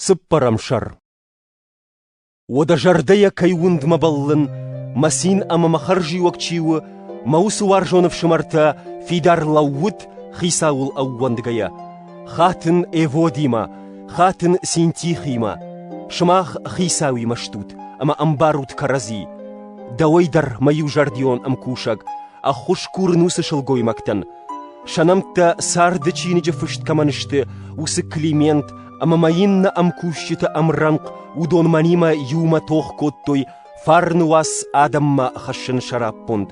Цыппӕрӕм сӕр Уӕдӕ зӕрдӕйӕ кӕй уындмӕ бӕллын, мӕ цин ӕмӕ мӕ хӕрзиуӕг чи у, мӕ уыцы уарзон ӕфсымӕртӕ фидар лӕууут хицауыл ӕууӕндгӕйӕ, хатын Эводимӕ, хатын Синтихимӕ, сымах хицауимӕ стут ӕмӕ ӕмбарут кӕрӕдзи. Дӕуӕй дӕр мӕ иузӕрдион ӕмкусӕг, ӕххуыс курын уыцы сылгоймӕгтӕн, Сӕ нӕмттӕ царды чиныджы фыст кӕмӕн сты, уыцы Климент ӕмӕ ма иннӕ ӕмкусджыты ӕмрӕнхъ уыдон мӕнимӕ иумӕ тох кодтой фарны уац адӕммӕ хӕссыны сӕраппонд.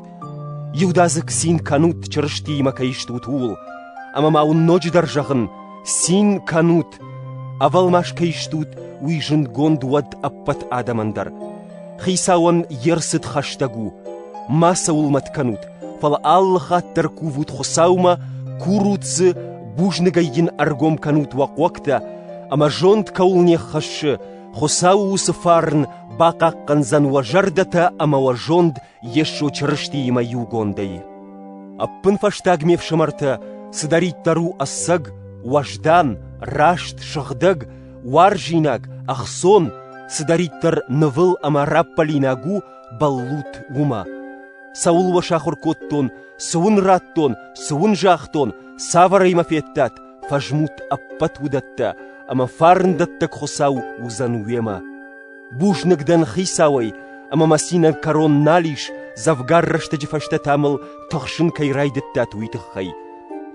Иудадзыг цин кӕнут Чырыстиимӕ кӕй стут, ууыл. Ӕмӕ ма уын ноджыдӕр зӕгъын, цин кӕнут Ӕвӕлмас кӕй стут, уый зындгонд уӕд ӕппӕт адӕмӕн дӕр. Хицауӕн йе рцыд хӕстӕг у. Мацӕуыл мӕт кӕнут, фӕлӕ алы хатт дӕр кувут Хуыцаумӕ, курут дзы, бузныгӕй йын ӕргом кӕнут уӕ хъуӕгтӕ, ӕмӕ зонд кӕуыл не ххӕссы, Хуыцауы уыцы фарн бахъахъхъӕндзӕн уӕ зӕрдӕтӕ ӕмӕ уӕ зонд Йесо Чырыстиимӕ иугондӕй. Ӕппынфӕстаг ме фсымӕртӕ, цыдӕриддӕр у ӕцӕг, уӕздан, раст, сыгъдӕг, уарзинаг, ӕхцон, цыдӕриддӕр нывыл ӕмӕ раппӕлинаг у, бӕллут уымӕ. Цӕуыл уӕ сахуыр кодтон, цы уын радтон, цы уын загътон, цавӕрӕй мӕ федтат, фӕзмут ӕппӕт уыдӕттӕ, ӕмӕ фарндӕттӕг Хуыцау уыдзӕн уемӕ. Бузныг дӕн хицауӕй, ӕмӕ мӕ цинӕн кӕрон нал ис, дзӕвгар рӕстӕджы фӕстӕ та мыл тыхсын кӕй райдыдтат, уый тыххӕй.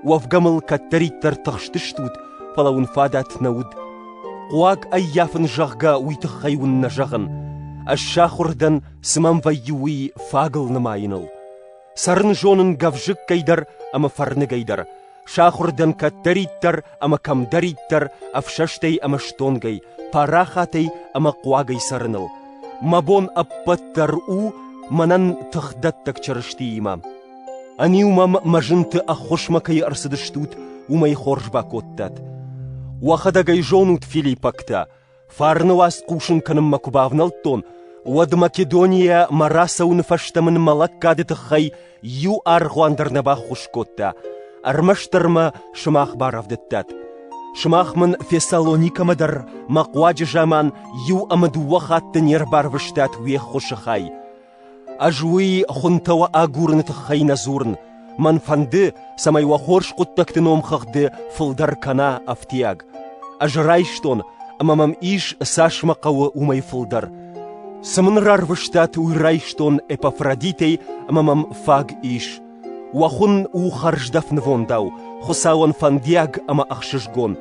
Уӕвгӕ мыл кӕддӕриддӕр тыхстыстут, фӕлӕ уын фадат нӕ уыд. Хъуаг ӕййафын, зӕгъгӕ, уый тыххӕй уын нӕ зӕгъын. Ӕз сахуыр дӕн, цы мӕм вӕййы, уый фагыл нымайыныл. Цӕрын зонын гӕвзыккӕй дӕр ӕмӕ фӕрныгӕй дӕр, сахуыр дӕн кӕддӕриддӕр ӕмӕ кӕмдӕриддӕр ӕфсӕстӕй ӕмӕ стонгӕй, парахатӕй ӕмӕ хъуагӕй цӕрыныл. Мӕ бон ӕппӕт дӕр у мӕнӕн тыхдӕттӕг Чырыстиимӕ. Ӕниу мӕм мӕ зынты ӕххуысмӕ кӕй ӕрцыдыстут, уымӕй хорз бакодтат. Уӕхӕдӕг ӕй зонут филиппӕгтӕ – Фарны уац хъусын кӕнынмӕ куы бавнӕлдтон, уӕд Македонийӕ мӕ рацӕуыны фӕстӕ мын мӕ лӕггады тыххӕй иу аргъуан дӕр нӕ баххуыс кодта. Ӕрмӕстдӕр мӕ сымах барӕвдыдтат. Сымах мын Фессалоникӕмӕ дӕр мӕ хъуаджы заман иу ӕмӕ дыууӕ хатты не рбарвыстат уе ххуысы хай. Ӕз уый хуынтӕ уӕ агурыны тыххӕй нӕ дзурын, мӕн фӕнды, цӕмӕй уӕ хорз хъуыддӕгты номхыгъды фылдӕр кӕна ӕфтиаг. Ӕз райстон, ӕмӕ мӕм ис, цас мӕ хъӕуы, уымӕй фылдӕр. Цы мын рарвыстат, уый райстон Эпафродитӕй ӕмӕ мӕм фаг ис. Уӕ хуын у хӕрздӕф нывондау, Хуыцауӕн фӕндиаг ӕмӕ ӕхсызгон.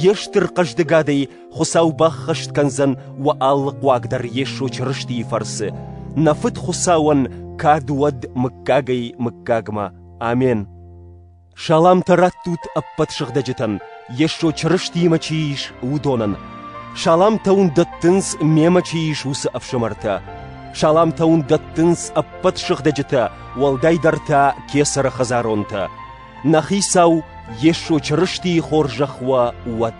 Йе стыр хъӕздыгадӕй Хуыцау баххӕст кӕндзӕн уӕ алы хъуаг дӕр Йесо Чырыстийы фӕрцы, нӕ Фыд Хуыцауӕн кад уӕд мыггагӕй мыггагмӕ. Амен. Саламтӕ раттут ӕппӕт сыгъдӕджытӕн, Йесо Чырыстиимӕ чи ис, уыдонӕн. Саламтӕ уын дӕттынц мемӕ чи ис, уыцы ӕфсымӕртӕ. Саламтӕ уын дӕттынц ӕппӕт сыгъдӕджытӕ, уӕлдайдӕр та кесӕры хӕдзаронтӕ. Нӕ Хицау Йесо Чырыстийы хорзӕх уӕ уӕд!